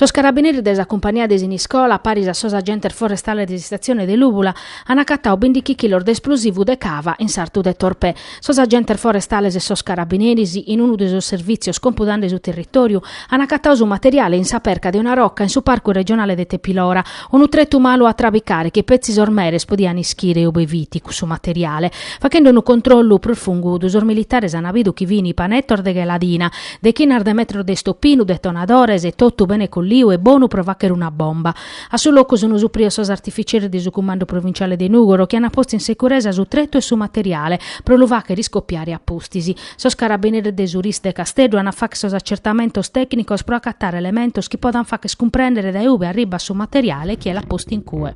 Sos carabineris de sa cumpania de Siniscola, paris a sos agentes forestales de s'istatzione de Lùbula, an acatau bìndichi chilos de esplosivu de cava in sartu de Torpè. Sos agentes forestales e sos carabineris, in unu de sos servìtzios compudande su territòriu, an acatau su materiale in sa perca de una roca in su Parcu Regionale de Tepilora, unu tretu malu a trabicare chi petzi sos meres podian ischire ube fit cussu materiale. Fachende unu controllu prus fungudu, sos militares an bidu chi fin panetos de gheladina, dechinas de metros de istopinu, detonadores e totu bene colliu e bonu pro fàchere una bomba. A su locu sunt suprios sos artificieris de su Cumandu Provinciale de Nùgoro chi ant postu in sicuresa su tretu e su materiale pro lu fàchere iscopiare a pustis. Sos carabineris de su RIS de Casteddu ant a fàchere sos acertamentos tècnicos pro acatare elementos chi potant fàcher cumprèndere dae ube arribat su materiale e chie l'at postu in cue.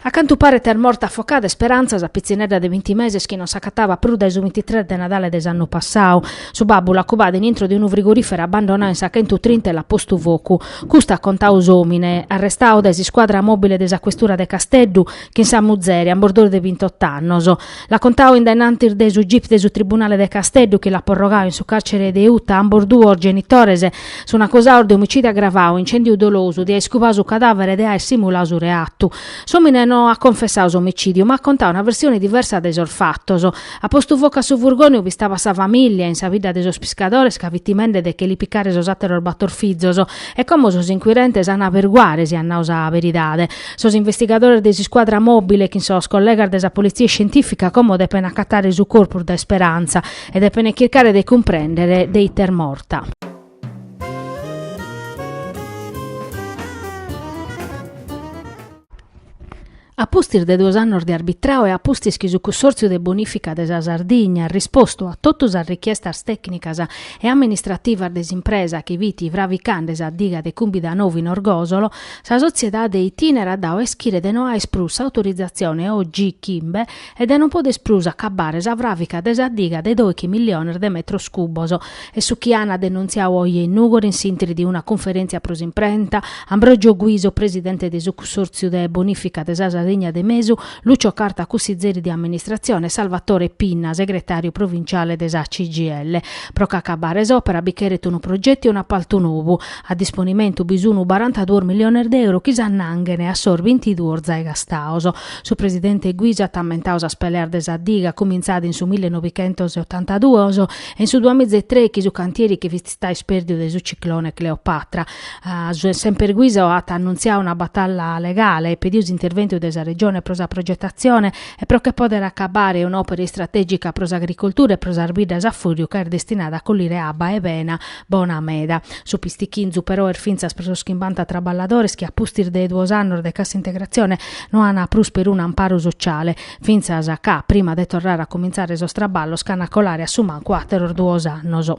A cantu paret est morta afocada Esperanza, sa pitzinedda de binti meses chi non s'acataba prus dae su bintitres de Nadale de s'annu passau. Su babbu l'at cubada in intro de unu frigorìferu abbandonau in sa chentutrinta e l'at postu focu. Custu at contau s'òmine, arrestau dae s'iscuadra mòbile de sa questura de Casteddu, chin sa muzere, ambos duos de bintot'annos. L'at contau in dae nantis de su gip de su tribunale de Casteddu chi l'at porrogau in su càrcere de Uta ambos duos genitores. Sunt acusaos de omicìdiu agravau, incèndiu dolosu, de aer cubau su cadàvere e de aer simulau su reatu. S'òmine no at confessau s'omicìdiu ma at contau una versione diversa de sos fatos. At postu focu a su furgone ube istabat sa famìllia, in sa bidda de sos piscadores ca fit timende de che li picare sos àteros bator fizos e como sos inquirentes an a averiguare si at nau sa beridade. Sos investigadores de s'iscuadra mòbile chin sos collegas de sa polizia iscientìfica como depen acatare su corpus de Esperanza e depen chircare de cumprèndere de ite est morta. A pustis de duos annos de arbitrau e a pustis chi su Cussòrtziu de Bonìfica de sa Sardigna at rispostu a totu sas richiestas tècnicas e amministrativas de s'impresa chi fit fravicande sa diga de Cumbidanovu in Orgòsolo, Sa sotziedade Itinera at dau a ischire de no aer prus s'autorizatzione OG Chimbe e de non poder prus acabare sa fràvica de sa diga de dòichi milliones de metros cubos. Est su chi an denuntziau oje in Nùgoro in s'intri de una cunferèntzia pro s'imprenta, Ambrogio Guiso, presidente de su cussòrtziu de bonìfica de sa Sardigna de Mesu, Lucio Carta, cussizeri de amministratzione e Salvatore Pinna, segretàriu provinciale de sa CGIL. Pro ch'acabare s'òpera bi cheret unu progetu e un'apaltu nou. A disponimentu bi sunu barantaduos miliones de euro chi s'annanghene a sos bintiduos zai gastados. Su presidente Guiso at ammentadu sas peleas de sa diga cumintzada in su mille novichentos e otantaduos e in su duamiza e trèighi su cantieri che fit istadu ispèrdiu de su ciclone Cleopatra. Semper Guiso at annuntziadu una batalla legale e pedidu s'interventu de sa Regione pro sa progetatzione e pro che pòdere acabare un'òpera istratègica pro s'agricultura e pro sas biddas a fùriu ca est destinada a collire abba 'e bena Bona meda. Su pistichinzu però est fintzas pro sos chimbanta traballadores chi a pustis de duos annos de cassa integratzione no an prus perunu amparu sociale, fintzas ca, prima de torrare a comintzare sos traballos, ch'an a colare a su mancu àteros duos annos.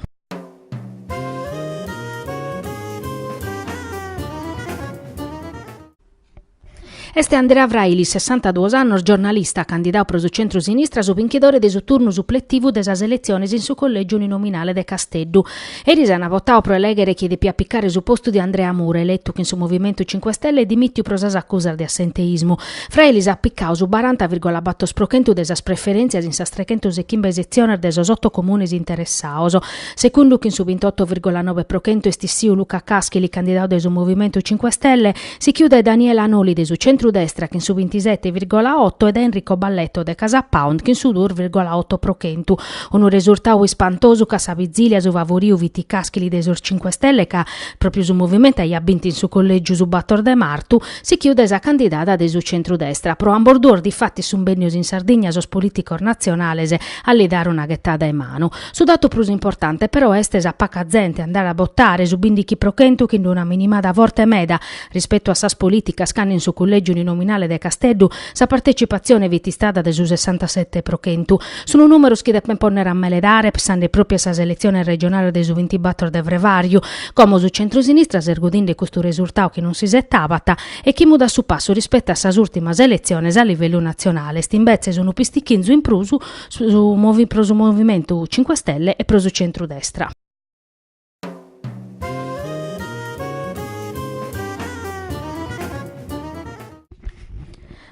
Est Andrea Frailis, sessantaduos annos, giornalista, candidadu pro su centru-sinistra, su binchidore de su turnu supletivu de sas eletziones in su collègiu uninominale de Casteddu. Eris ant votadu pro elèghere chie depiat picare su postu de Andrea Mura, eletu chin su Movimentu Cinque Stelle e dimìtiu pro sas acusas de assenteismu. Frailis at picadu su baranta virgola bator pro chentu de sas preferèntzias in sas trechentos e chimbe setziones de sos oto comunes interessados. Segundu chin su bintoto virgola nobe pro chentu est issìu Luca Caschili, candidadu de su Movimentu Cinque Stelle, Sichiu dae Daniela Noli de su centru-destra chin su bintisete virgola oto e dae Enrico Balletto de Casapound chin su duos virgola oto pro chentu. Unu resurtau ispantosu ca a sa bizilia su favoriu fit Caschili de sos Cinque Stelle ca, pròpiu su Movimento aiat bintu in su Collègiu su bator de martu, sichiu dae sa candidada de su centru-destra. Pro ambos duos difatis sunt bennios in Sardigna sos polìticos natzionales a li dare una ghetada 'e manu. Su datu prus importante però est sa paca zente andare a botare, su bindighi pro chentu chin d'una minimada forte meda, rispetu a sas polìticas cando in su collègiu uninominale de Casteddu sa partetzipatzione fit istada de su sessantasete pro chentu. Sunt nùmeros chi depent pònnere a meledare pessande pròpiu a sas eletziones regionales de su bintibator de frevàriu, como su centrosinistra s'est godinde custu resurtadu chi non s'isetabat e chi mudat su passu rispetu a sas ùrtimas eletziones a livellu natzionale est imbetzes unu pistichinzu in prus su movi, pro su Movimentu Cinque Stelle e pro su centrudestra.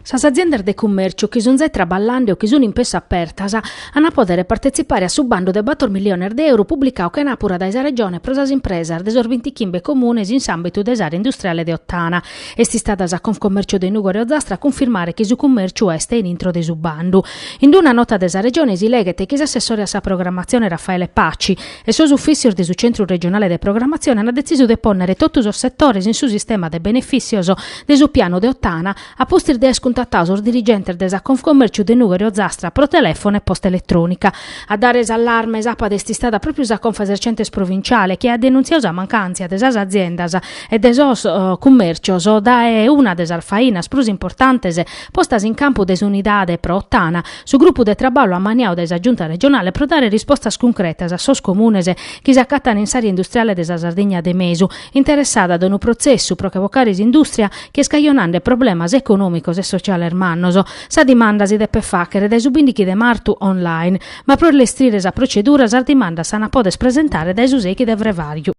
Sas aziendas de cummèrciu chi sunt zai traballande o chi sunt in pessu apertas ant a pòdere partetzipare a su bandu de bator milliones de euro publicadu chenàpura dae sa Regione pro sas impresas de sos bintichimbe comunes in s'àmbitu de s'àrea industriale de Ottana, Est istada sa Confcommercio de Nùgoro e Ozzastra a cunfirmare chi su cummèrciu est in intro de su bandu. In una nota de sa Regione si leghet chi s'assessore a sa programmatzione Raffaele Paci e sos ufìtzios de su Centru Regionale de Programmatzione ant detzisu de pònnere totu sos setores in su sistema de benefìtzios de su pianu de Ottana a pustis de aer cuntatadu sos dirigentes de sa Confcommerciu de Nùgoro e Ozzastra pro telèfonu e posta eletrònica. A dare s'allarme sàpadu est istada pròpiu sa Confesercentes provinciale chi at denuntziadu sa mancàntzia de sas aziendas e de sos cummèrcios dae una de sas fainas prus importantes postas in campu de s'Unidade pro Ottana, su grupu de traballu ammaniadu dae sa Giunta regionale pro dare rispostas cuncretas a sos comunes chi s'acatan in s'àrea industriale de sa Sardigna de Mesu, interessada dae unu protzessu pro che bocare s'indùstria chi est cajonande problemas econòmicos e sociales mannos. Sa dimanda si depet fàghere dae su bìndighi de martu online, ma pro lestrire sa protzedura sas dimandas s'ant a poder presentare dae su sèighi de frevàriu.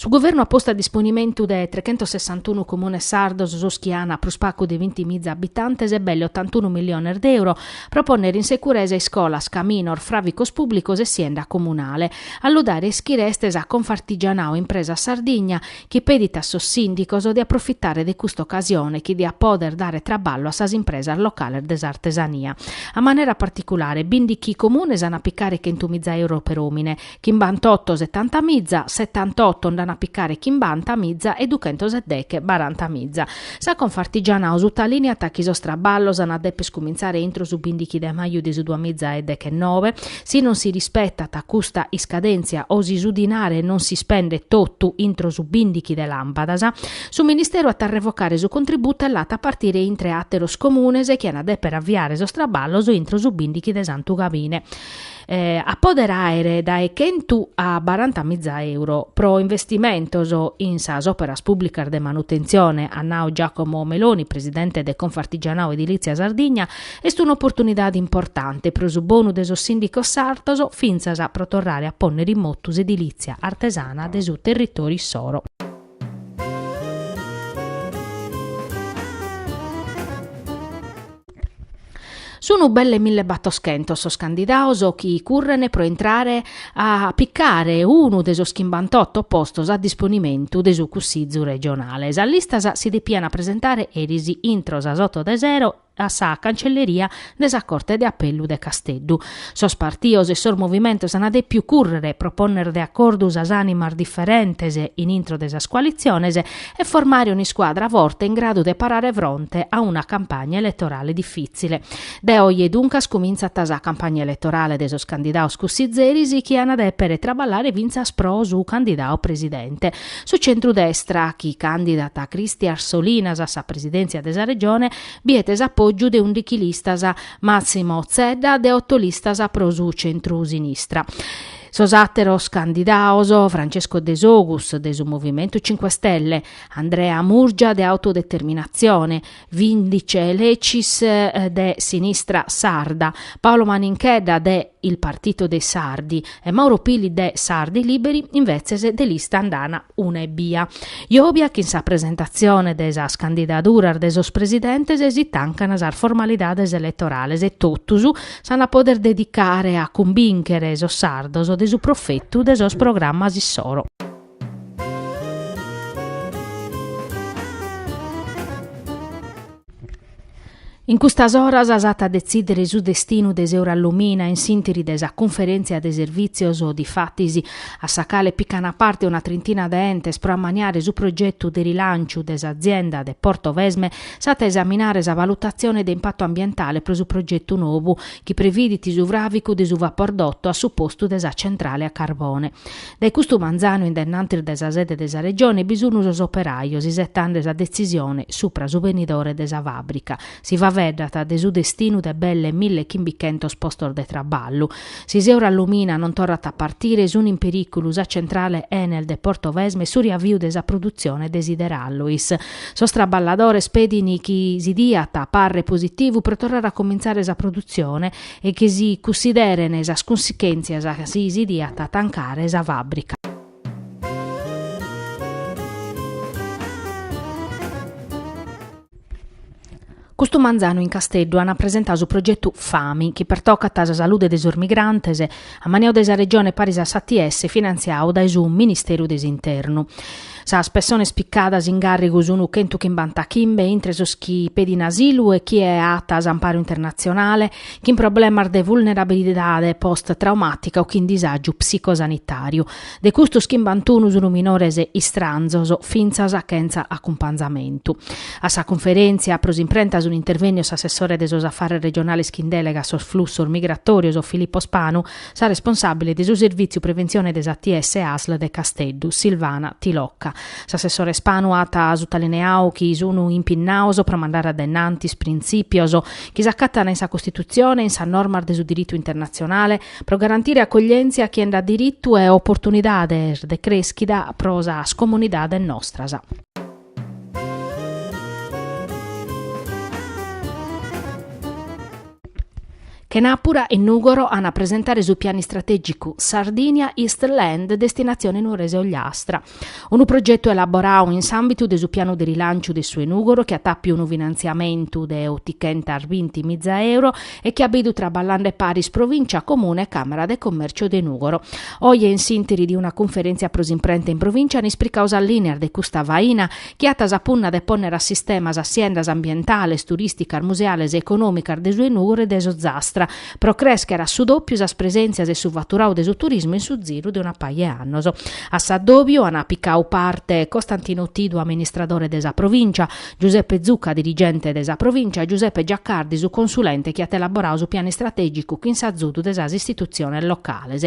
Su Guvernu at postu a disponimentu de trechentossessantunu comunes sardos, sos chi an prus pagu de binti miza abitantes e belle otantunu milliones de euro, pro pònnere in securesa iscolas, caminos, fràvicos pùblicos e sienda comunale. A lu dare a ischire est sa Confartigianao Impresas Sardigna, chi pedit a sos sìndicos de aprofitare de custa ocasione chi diat pòder dare traballu a sas impresas locales de s'artesania, a manera particulare bìndighi comunes an a picare chentu miza euro per òmine, chimbantotto setanta miza, setantotto nd'an a picare chimbanta miza e duchentos e deche baranta miza. Sa Confartigianao sutalìniat chi sos traballos an a dèpere iscumintzare intro su bìndighi de maju de su duamiza e dechennove, Si non si rispetat custa iscadèntzia o si su dinare non si spendet totu intro su bìndighi de làmpadas, su Ministeru at a revocare su contributu e l'at a partire intre àteros comunes chi an a dèpere aviare sos traballos intro su bìndighi de Santu Gabine. A pòdere àere dae chentu a baranta miza euro pro investimentos in sas òperas pùblicas de manutentzione, at nadu Giacomo Meloni, presidente de Confartigianao Edilizia Sardigna, Est un'oportunidade importante pro su bonu de sos sìndicos sardos fintzas pro torrare a pònnere in motu s'edilìtzia artesana de su territòriu issoro. Sun belle milli e battoschentos sos candidados chi curren pro intrare a picare unu de sos chimbantotto postos a disponimentu de su Cussizu regionale. Sas listas si depian presentare eris intro sas oto de sero a sa Cancelleria de sa Corte de Apellu de Casteddu. Sos partios e sos movimentos ant dèpiu cùrrere pro pònnere de acordu sas ànimas diferentes in intro de sas coalitziones e formare un'iscuadra forte in gradu de parare fronte a una campagna eletorale difìtzile. De oje duncas cumintzat sa campagna eletorale de sos candidados cussizeris chi ant dèpere traballare fintzas pro su candidadu presidente. Su centrudestra, chi càndidat Christian Solinas a sa presidèntzia de sa Regione, biet s'apògiu de ùndichi listas, Massimo Zedda de oto listas pro su centru-sinistra. Sos àteros candidados, Francesco Desogus de su Movimentu Cinque Stelle, Andrea Murgia de Autodeterminatzione, Vindice Lecis de Sinistra Sarda, Paolo Maninchedda de Il Partito dei Sardi e Mauro Pili de Sardi Liberi invetzes de lista nd'ana una ebbia. Jòbia chin sa presentatzione de sas candidaduras de sos presidentes si tancan sas formalidades eletorales e totus s'an a poder dedicare a cumbìnchere sos sardos de su profetu de sos programmas issoro. In custas oras s'at a detzìdere su destinu de s'Eurallumina in s'ìntiri de sa cunferèntzia de servìtzios, difatis, a sa cale pican a parte una trintina de entes pro ammaniare su progetu de rilànciu de s'azienda de Portovesme, s'at a esaminare sa valutatzione de impatu ambientale pro su progetu nou chi previdit su fràvicu de su vapordotto a su postu de sa centrale a carbone. Dae custu manzanu in dennantis de sa sede de sa Regione bi sun sos operajos isetande sa detzisione supra su benidore de sa fàbrica. Si faeddat de su destinu de belle mille chimbichentos postos de traballu. Si s'Eurallumina non torrat a partire, sun in perìculu sa centrale Enel de Portovesme e su riaviu de sa produtzione de Sider Alloys. Sos traballadores pedin chi si diat parre positivu pro torrare a comintzare sa produtzione, e chi si cussideren sas cunsechèntzias si si diat a tancare sa fàbrica. Custu manzanu in Casteddu ant presentadu su progetu Fami, chi pertocat sa salude de sos migrantes, ammaniau dae sa Regione paris a s'ATS e finantziau dae su Ministeru de s'Internu. Sas pessones picadas in gàrrigu sunu chentu chimbanta chimbe, intre sos chi pedin asilu e chie at amparu internatzionale, chin problemas de vulnerabilidade post-traumàtica o chin disàgiu psicosanitàriu. De custos chimbantunu sunu minores istranzos, fintzas chentza acumpanzamentu. A sa cunferèntzia pro s'imprenta sun intervènnios s'assessore de sos Afares Regionales chin dèlega a sos Flussos Migratòrios Filippo Spanu, Sa responsàbile de su Servìtziu Preventzione de s'ATS Asl de Casteddu, Silvana Tilocca. S'assessore Spanu at sutalineau chi sunu impinnaos pro mandare a dae innantis printzìpios chi s'acatana in sa Costitutzione e in sas normas de su diritu internatzionale pro garantire acoglièntzia a chie nd'at diritu e oportunidades de crèschida pro sas comunidades nostras. Chenàpura in Nùgoro an a presentare su pianu istratègicu Sardinia East Land Destinazione Nuorese Ogliastra, unu progetu elaborau in s'àmbitu de su pianu de rilanciu de su 'e Nùgoro chi at àpiu unu finantziamentu de otichentas binti miza euro e chi at bidu traballande paris Provìncia, Comune e Càmara de Commèrciu de Nùgoro. Oje in s'ìntiri de una cunferèntzia pro s'imprenta in Provìncia an ispricau sas lìnias de custa faina chi at sa punna de pònnere a sistema sas siendas ambientales, turìsticas, museales e econòmicas de su 'e Nùgoro e de s'Ozastra pro crèschere a su dòpiu sas presèntzias e su faturau de su turismu in su ziru de una paja 'e annos. A s'addòbiu an picau parte Costantino Tidu, amministradore de sa Provìncia, Giuseppe Zucca dirigente de sa Provìncia e Giuseppe Giaccardi su consulente chi at elaborau su pianu istratègicu chin s'azudu de sas istitutziones locales.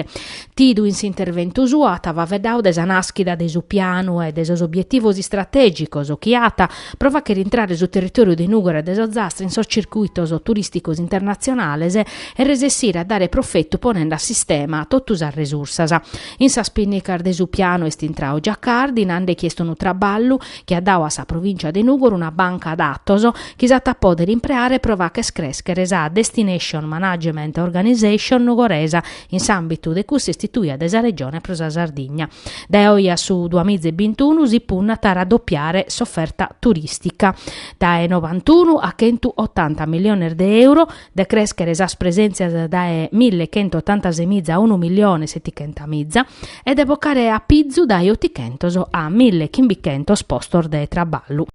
Tidu in s'interventu suo at faveddau de sa nàschida de su pianu e de sos obietivos istratègicos chi at pro fàchere intrare su territòriu de Nùgoro e de s'Ozastra in sos circuitos turìsticos internatzionales e resessire a dare profetu ponende a sistema totu sas resursas. In sas pinnicas de su pianu est intrau Giaccardi nande chi est unu traballu chi at dau a sa Provìncia de Nùgoro una banca datos chi s'at a pòdere impreare pro facher crèschere sa Destination Management Organisation nugoresa in s'àmbitu de cussa istituia de sa Regione pro sa Sardigna. Dae oje a su duamiza e bintunu si punnat a raddopiare s'oferta turìstica dae novantunu a chentu otanta miliones de euro, de crèschere sas presèntzias dae mille chent'e otantasemiza a unu milione e setichentamìza e de bocare a pizu dae otichentos a mille chimbichentos postos de traballu.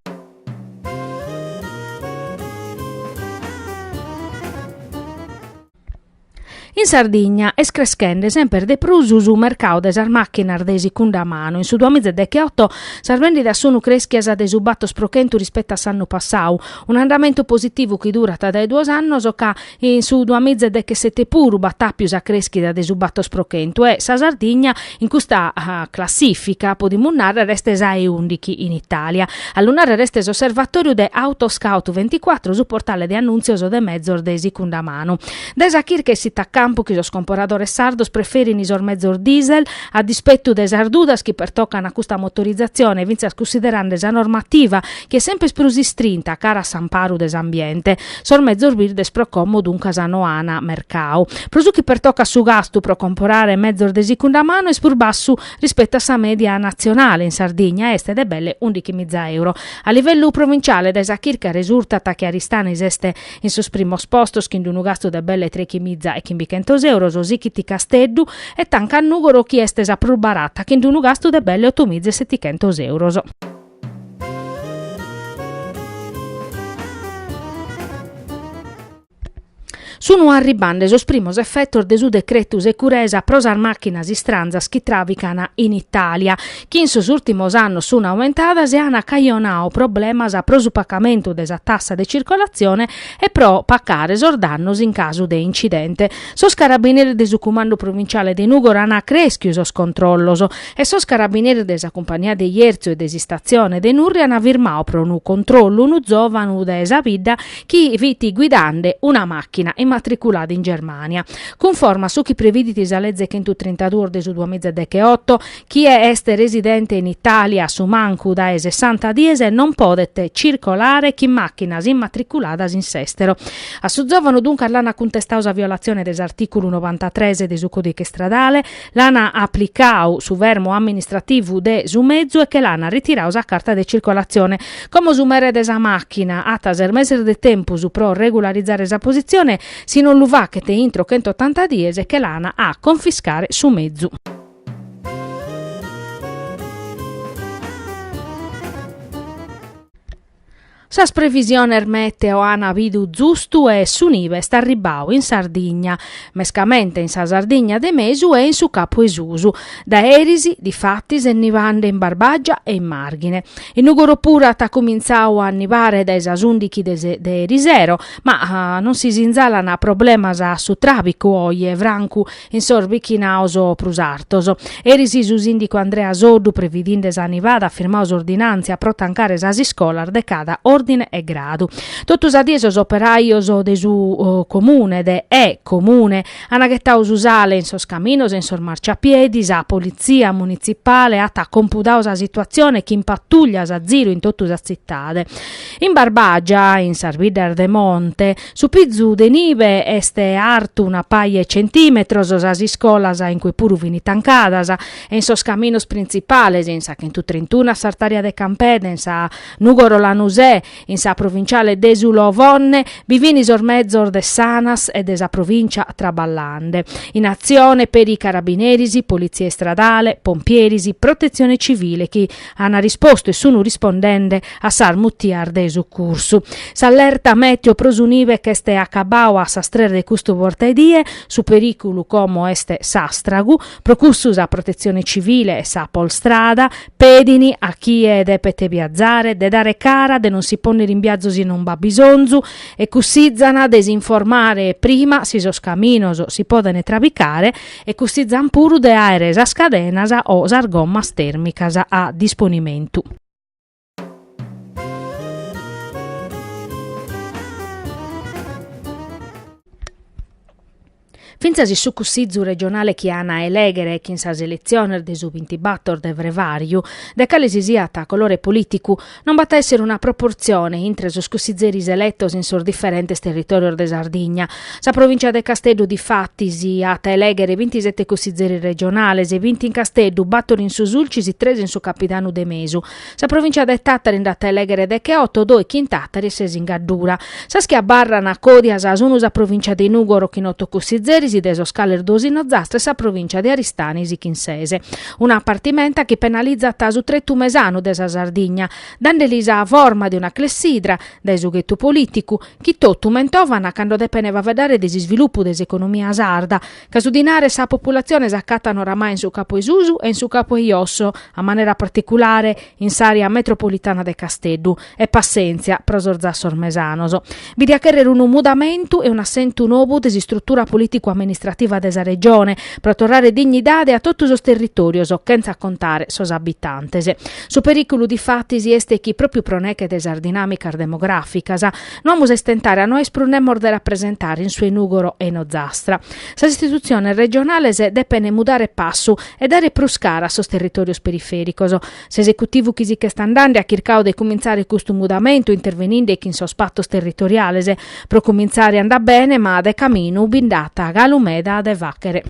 In Sardigna est creschende semper de prus su mercau de sas màchinas de sicunda manu. In su duamiza e dechioto sas vèndidas sunt crèschias de su batos pro chentu rispetu a s'annu passau, un'andamentu positivu chi durat dae duos annos, ca in su duamiza e dechesete puru b'at àpiu sa crèschida de su batos pro chentu e sa Sardigna in custa classìfica, podimus nàrrere, est sa e ùndighi in Itàlia. A lu nàrrere est s'osservatòriu de Autoscout24, su portale de annùntzios de mezos de sicunda manu. Dae sa chirca essit a campu chi sos comporadores sardos preferin sos mezos diesel, a dispetu de sas dudas chi pertocan a custa motorizatzione fintzas cunsiderande sa normativa chi est semper prus istrinta cara a s'amparu de s'ambiente, sos mezos birdes pro como duncas no an mercau. Pro su chi pertocat su gastu pro comporare mezos de sicunda manu est prus bassu rispetu a sa mèdia natzionale, in Sardigna est de belle ùndichi miza euro. A livellu provinciale dae sa chirca resurtat chi Aristanis est In sos primos postos, chin d'unu gastu de belle trechimiza e chimbichentos euros, sighit Casteddu e tancat Nùgoro chi est sa prus barata, chin d'unu gastu de belle otomiza e setichentos euros. Sun arribande sos primos efetos de su decretu securesa pro sas màchinas istranzas chi tràvican in Itàlia. chi in sos ùrtimos annos sun aumentadas e an cajonau problemas pro su pacamentu de sa tassa de circolatzione e pro pacare sos dannos in casu de incidente. Sos carabineris de su Cumandu Provinciale de Nùgoro an crèschiu sos controllos e sos carabineris de sa cumpagnia de Jerzu e de s'istatzione de Nurri an firmau pro unu controllu unu zòvanu de sa bidda chi fit guidande una màchina immatriculada in Germània. Cunforma a su chi previdit sa Leze chentu trintaduos de su duamiza decheoto, Chie est residente in Itàlia a su mancu dae sessanta dies non podet circolare chin màchinas immatriculadas in s'èstero. A su zòvanu duncas l'ant cuntestau sa violatzione de s'artìculu novantatres de su Còdiche Istradale, l'ant aplicau su fermu amministrativu de su mezu e che l'ant ritirau sa carta de circolatzione. Como su mere de sa màchina at ses meses de tempus pro regularizare sa positzione, si non lu fachet intro chentotanta dies che l'ant a confiscare su mezu. Sas previsiones meteo an bidu zustu e su nive est arribau in Sardigna, mescamente in sa Sardigna de mesu e in su Capu 'e Susu. Dae eris, difatis, est nivande in Barbagia e in Marghine. In Nùgoro puru at cumintzau a nivare dae sas ùndichi de erisero, ma non si sinzalan problemas a su tràbicu oje francu in sos bichinaos prus artos. Eris su sìndicu Andrea Soddu, previdinde sa nivada, at firmau s'ordinàntzia pro tancare sas iscolas de cada òrdine e gradu. Totu sa die sos operajos de su Comune de E Comune ant ghetau su sale in sos caminos e in sos marciapiedi, sa politzia munitzipale at compudau sa situatzione chin patùllias a ziru in totu sa tzitade. In Barbàgia, in sas biddas de monte, Su pizu de nive est artu una paja 'e centìmetros, sas iscolas in cue puru fint tancadas e in sos caminos printzipales, in sa Chentutrintuna a s'artària de Campedhe, in sa Nùgoro Lanusè, in sa provinciale de su Lovonne, bi fint sos mezos de s'Anas e de sa provìncia traballande. In atzione peri carabineris, politzia istradale, pompieris, protetzione civile chi An rispostu e sunu rispondende a sas mutias de sucursu. S'allerta meteo pro su nive ch'est acabau a sas tres de custu portaedie, su perìculu como est s'àstragu, pro cussu sa Protetzione Civile e sa Polstrada pedint a chie depet viazare de dare cara de non si pònnere in viazu si non b'at bisonzu e cussizana de si informare prima si sos caminos si podent trabicare e cussizant puru de àere sas cadenas o sas gommas tèrmicas a disponimentu. Fintzas su Cussizu regionale chi an a elèghere chin sas eletziones de su bintibàtor de frevàriu, de cale si siat colore polìticu, Non b'at a èssere una proportzione intre sos cussizeris eletos in sos diferentes territòrios de Sardigna. Sa provìntzia de Casteddu difatis at a elèghere bintisete cussizeris regionales bint in Casteddu, bàtor in su Sulcis e tres in su Capidanu de Mesu. Sa provìntzia de Tàtari nd'at a elèghere decheoto, dòighi in Tàtari e ses in Gaddura. Sas chi abarran còdias sun sa provìntzia de Nùgoro chin oto cussizeris, de sos cales duos in Ozastra e sa provìntzia de Aristanis chin sese. una partimenta chi penalizat su tretu mesanu de sa Sardigna, dande li sa forma de una clessidra, dae su ghetu polìticu, chi totu mentovana cando depene faveddare de s'isvilupu de s'economia sarda, ca su dinare e sa populatzione s'acatan oramai in su capu 'e susu e in su capu 'e iosso, a manera particulare, in s'àrea metropolitana de Casteddu. E passèntzia pro sos zassos mesanos. Bi diat chèrrere unu mudamentu e un'assentu nou de s'istrutura polìticu-amministrativa de sa Regione, pro torrare dignidade a totu sos territòrios, chentza contare sos abitantes. Su perìculu difatis est chi, pròpiu pro neche de sas dinàmicas demogràficas, no amus a istentare a no aer prus nemos de rapresentare in su 'e Nùgoro e in Ozastra. Sas istitutziones regionales depent mudare passu e dare prus cara a sos territòrios perifèricos. S'esecutivu chi si ch'est andande at chircau de cumintzare custu mudamentu interveninde chin sos patos territoriales. Pro cumintzare andat bene ma de caminu bi nd'at galu meda de fàchere.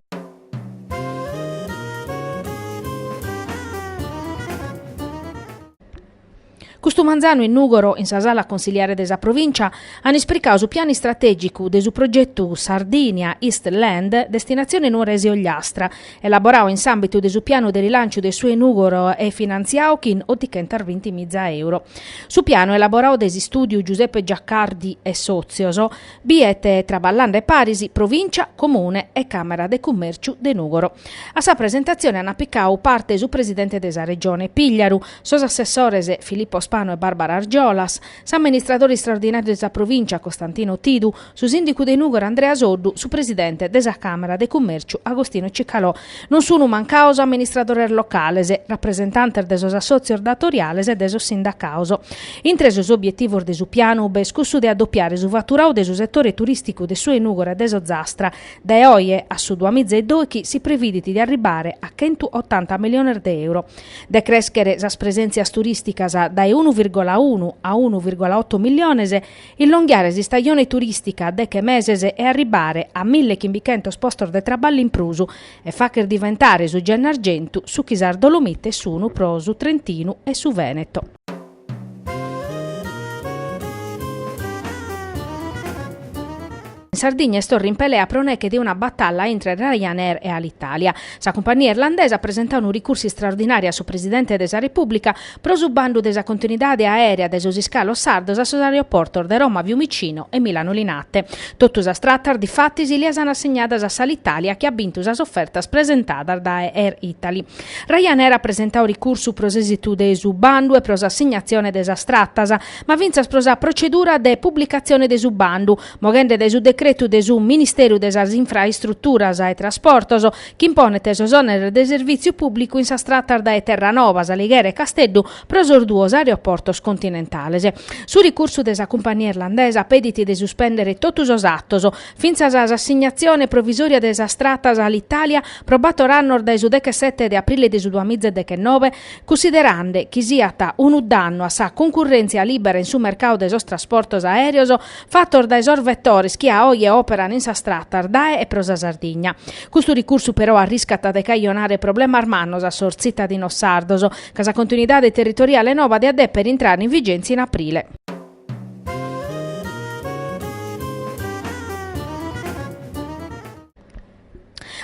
Custu manzanu in Nùgoro, in sa sala consiliare de sa Provìncia, an ispricau su pianu istratègicu de su progetu Sardinia East Land, destinazione Nuorese Ogliastra, elaboradu in s'àmbitu de su pianu de rilanciu de su 'e Nùgoro e finantziadu chin otichentas binti miza èuros. Su pianu elaboradu de s'istùdiu Giuseppe Giaccardi e sòtzios biet traballande paris Provìncia, Comune e Càmera de Cummèrciu de Nùgoro. A sa presentatzione ant picadu parte su presidente de sa Regione Pigliaru, sos assessores Filippo Spanu e Barbara Argiolas, s'amministradore istraordinàriu de sa Provìncia Costantino Tidu, su sìndicu de Nùgoro Andrea Soddu, su presidente de sa Càmera de Cummèrciu Agostino Cicalò. Non sunt mancados amministradores locales, rapresentantes de sos assòtzios datoriales e de sos sindacados. Intre sos obietivos de su pianu b'est cussu de adopiare su faturadu de su setore turìsticu de su 'e Nùgoro e de s'Ozastra. Dae oje a su duamiza e binti chi si previdit de arribbare a chentu otanta miliones de euro. De crèschere sas presèntzias turìsticas dae unu virgola unu a unu virgola oto miliones, Illonghiare s'istajone turìstica a deche meses e arribbare a mille chimbichentos postos de traballu in prus e fàcher diventare su Gennargentu su chi sas Dolomites sun pro su Trentinu e su Vèneto. Sa Sardigna est torra in pelea pro neche de una batalla intre Ryanair e Alitalia. Sa cumpania irlandesa at presentau unu ricursu istraordinàriu a su Presidente de sa Repùblica pro su bandu de sa continuidade aèrea de sos iscalos sardos a sos aeroportos de Roma Fiumicino e Milano Linate. Totu sas tratas, difatis, si las an assegnadas a s'Alitalia chi at bintu sas ofertas presentadas dae Air Italy. Ryanair at presentau ricursu pro s'èsitu de su bandu e pro s'assignatzione de sas tratas, ma fintzas pro sa procedura de publicatzione de su bandu, moghende dae su decretu de su Ministeru de sas Infraistruturas e Trasportos chi imponet sos òneres de servìtziu pùblicu in sas tratas dae Terranova, S'Alighera e Casteddu pro sos duos aeroportos continentales. Su ricursu de sa cumpania irlandesa pedit de suspèndere totu sos atos, fintzas s'assignatzione provisòria de sas tratas a Alitalia pro bator annos dae su dechesete de aprile de su duamiza e deghenove, cunsiderande chi siat unu dannu a sa cuncurrèntzia lìbera in su mercadu de sos trasportos aèreos, fatos dae sos vetores chi a oje operan in sas tratas dae e pro sa Sardigna. Custu ricursu però arriscat de cajonare problemas mannos a sos tzitadinos sardos, ca sa continuidade territoriale nova diat deper intrare in vigèntzia in aprile.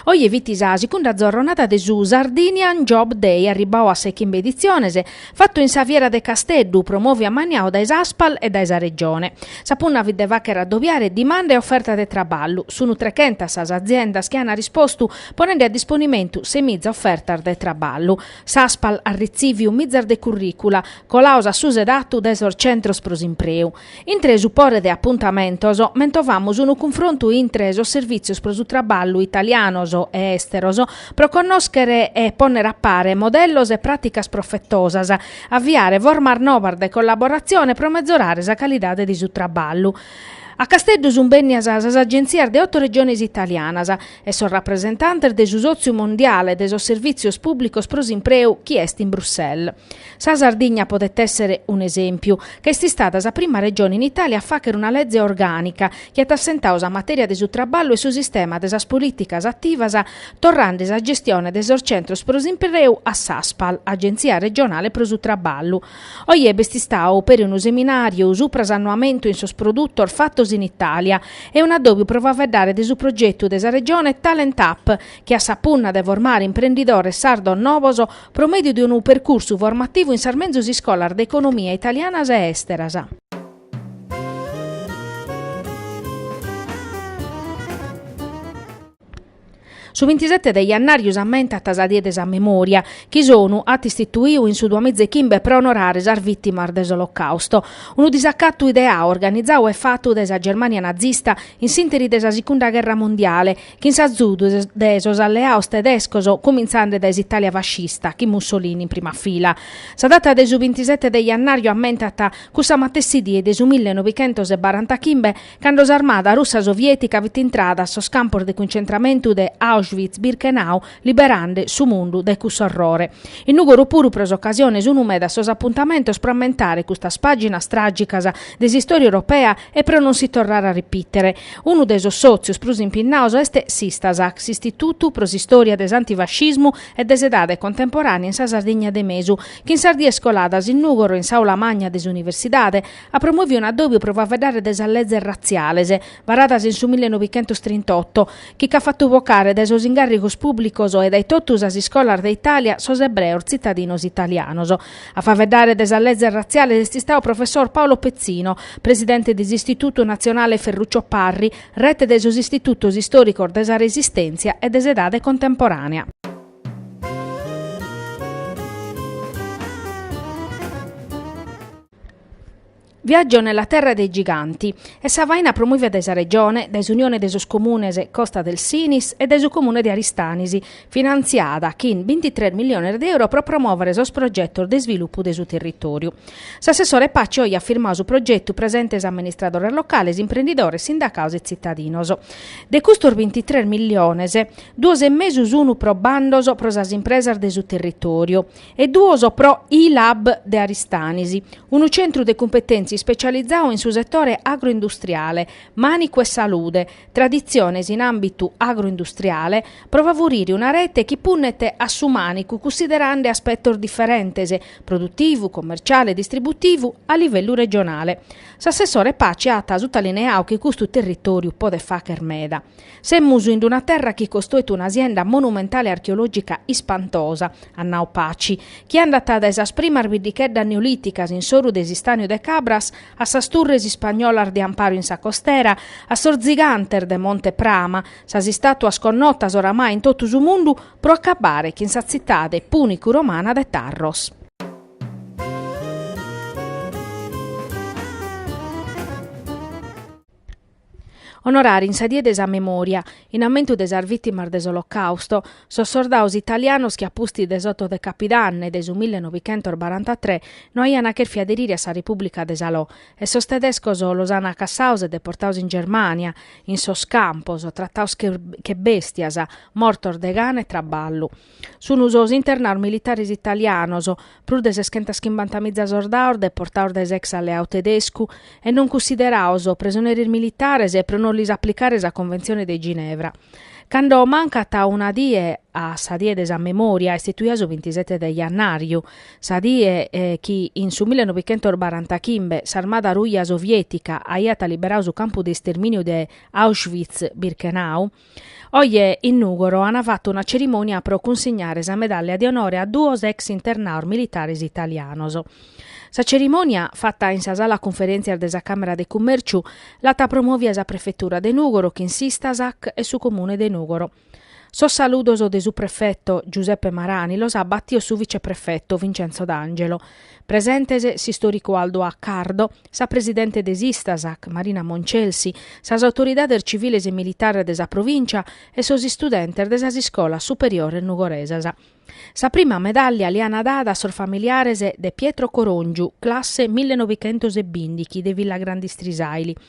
Oje fit sa segunda zorronada de su Sardinian Job Day arribbau a sa 'e chimbe editziones, fatu in sa Fiera de Casteddu, promoviu e ammaniau dae s'Aspal e dae sa Regione. Sa punna fit de fàcher addobiare dimanda e oferta de traballu. Sunu trechentas sas aziendas chi an arrispostu ponende a disponimentu ses miza ofertas de traballu. S'Aspal at ritziviu mizas de curricula, colaos a su sedatzu dae sos centros pro s'impreu. Intre su pore de apuntamentos, mentovamus unu cunfrontu intre sos Servìtzios pro su Traballu italianos e èsteros pro connòschere e pònnere a pare modellos e pràticas profetosas, aviare formas novas de collaboratzione pro metzorare sa calidade de su traballu. A Casteddu sunt bènnidas sas agentzias de oto regiones italianas e sos rapresentantes de su Sòtziu Mondiale de sos Servìtzios Pùblicos pro s'Impreu chi est in Bruxelles. Sa Sardigna podet èssere un'esèmpiu, ca est istada sa prima regione in Itàlia a fàghere una leze orgànica chi at assentadu sa matèria de su traballu e su sistema de sas polìticas ativas torrende sa gestione de sos centros pro s'impreu a s'Aspal, Agenzia Regionale pro su Traballu. Oje b'est istadu peri unu seminàriu subra s'annoamentu in sos produtos fatos in Itàlia e un'adòbiu pro faeddare de su progetu de sa Regione Talent Up chi at sa punna de formare imprendidores sardos novos pro mèdiu de unu percursu formativu in sas menzus iscolas de economia italianas e èsteras. Su bintisete de jannàriu s'ammentat sa Die de sa Memoria, chi s'ONU at istituiu in su duamìzechimbe pro onorare sas vìtimas de s'Olocàusto. Unu disacatu ideau, organizau e fatu dae sa Germània nazista in s'ìnteri de sa Sigunda gherra mondiale, chin s'azudu de sos alleaos tedescos cumintzande dae s'Italia fascista chin Mussolini in prima fila. Sa data de su bintisete de jannàriu ammentat cussa matessi die de su mille novichentos e barantachimbe cando s'armada russa soviètica fit intrada a sos campos de cuncentramentu de Auschwitz-Birkenau liberande su mundu dae cussu orrore. In Nùgoro puru pro s'ocasione sun meda sos apuntamentos pro ammentare custas pàginas tràgicas de s'istòria europea E pro non si torrare a ripìtere, unu de sos sòtzios prus impinnados est s'Istasac, s'Istitutu pro s'Istòria de s'Antifascismu e de s'Edade Contemporànea in sa Sardigna de Mesu, chi in sas dies coladas in Nùgoro, in s'Aula Magna de s'Universidade, at promovidu un'addòbiu pro faeddare de sas lezes ratziales, varadas in su mille novichentos trint'oto, chi ch'at fatu vocare dae sos ingàrrigos pùblicos e dae totu sas iscolas de Itàlia sos ebreos tzitadinos italianos. A faeddare de sas lezes ratziales est istadu professor Paolo Pezzino, presidente de s'Istitutu natzionale Ferruccio Parri, rete de sos istitutos istòricos de sa Resistèntzia e de s'edade contemporànea. Viaggio nella terra dei giganti est sa faina promòvia dae sa Regione, dae s'Unione de sos Comunes Costa del Sinis e dae su Comune de Aristanis, finantziada chin bintitres milliones de euro pro promòvere sos progetos de isvilupu de su territòriu. S'assessore Paci oe at firmadu su progetu presentes amministradores locales, imprendidores, sindacados e tzitadinos. De custos bintitres milliones, duos e mesu sunu pro bandos pro sas impresas de su territòriu, e duos pro I-Lab de Aristanis, unu centru de cumpetèntzia ispetzializau in su setore agroindustriale, mànicu e salude, traditziones in àmbitu agroindustriale, pro favurire una rete chi punnet a su mànicu cunsiderande aspetos diferentes, produtivu, commerciale e distributivu, a livellu regionale. S'assessore Paci at sutalineau chi custu territòriu podet fàghere meda. Semus in una terra chi costoit un'asienda monumentale archeològica ispantosa, at nau Paci, chi andat dae sas primas biddicheddas neolìticas in s'oru de s'Istàniu de Cabras a sas turres ispagnolas de amparu in sa costera, a sos tzigantes de Monte Prama, sas istàtuas connotas oramai in totu su mundu, pro acabare chin sa tzitade pùnicu-romana de Tarros. Onorare in sa die de sa memòria, in ammentu de sas vìtimas de s'Olocàusto, sos sordaos italianos chi a pustis de s'oto de capidanne de su mille novichentos barantatrè no aian chèrfiu aderire a sa Repùblica de Salò e sos tedescos los an cassaos e deportaos in Germània, in sos campos, trataos che bèstias, mortos de gana e traballu. Sun sos internaos militares italianos, prus de seschentas chimbantamìza sordaos deportaos dae s'ex alleau tedescu e non cunsideraos presoneris militares e pro non lis aplicare sa Conventzione de Ginevra. Cando mancat una die a sa die de sa memòria, istituia su bintisete de jannàriu, sa die chi in su mille novichentos barantachimbe s'armada ruja soviètica aiat liberau su campu de istermìniu de Auschwitz-Birkenau, Oje in Nùgoro an fatu una cerimònia pro cunsignare sa medàllia de onore a duos ex internaos militares italianos. Sa cerimònia, fata in sa sala cunferèntzias de sa Càmera de Cummèrciu, l'at promòvia sa Prefetura de Nùgoro chin s'Istasac e su Comune de Nùgoro. Sos saludos de su prefetu Giuseppe Marani los at batios su viceprefetu Vincenzo D'Angelo, Presentes s'istòricu Aldo Accardo, sa presidente de s'Istasac, Marina Moncelsi, sas autoridades civiles e militares de sa provìncia e sos istudentes de sas iscolas superiores nugoresas. Sa prima medàllia l'an dada a sos familiares de Pietro Coròngiu, classe millenovichentosebìndighi de Villagrande Strisàili,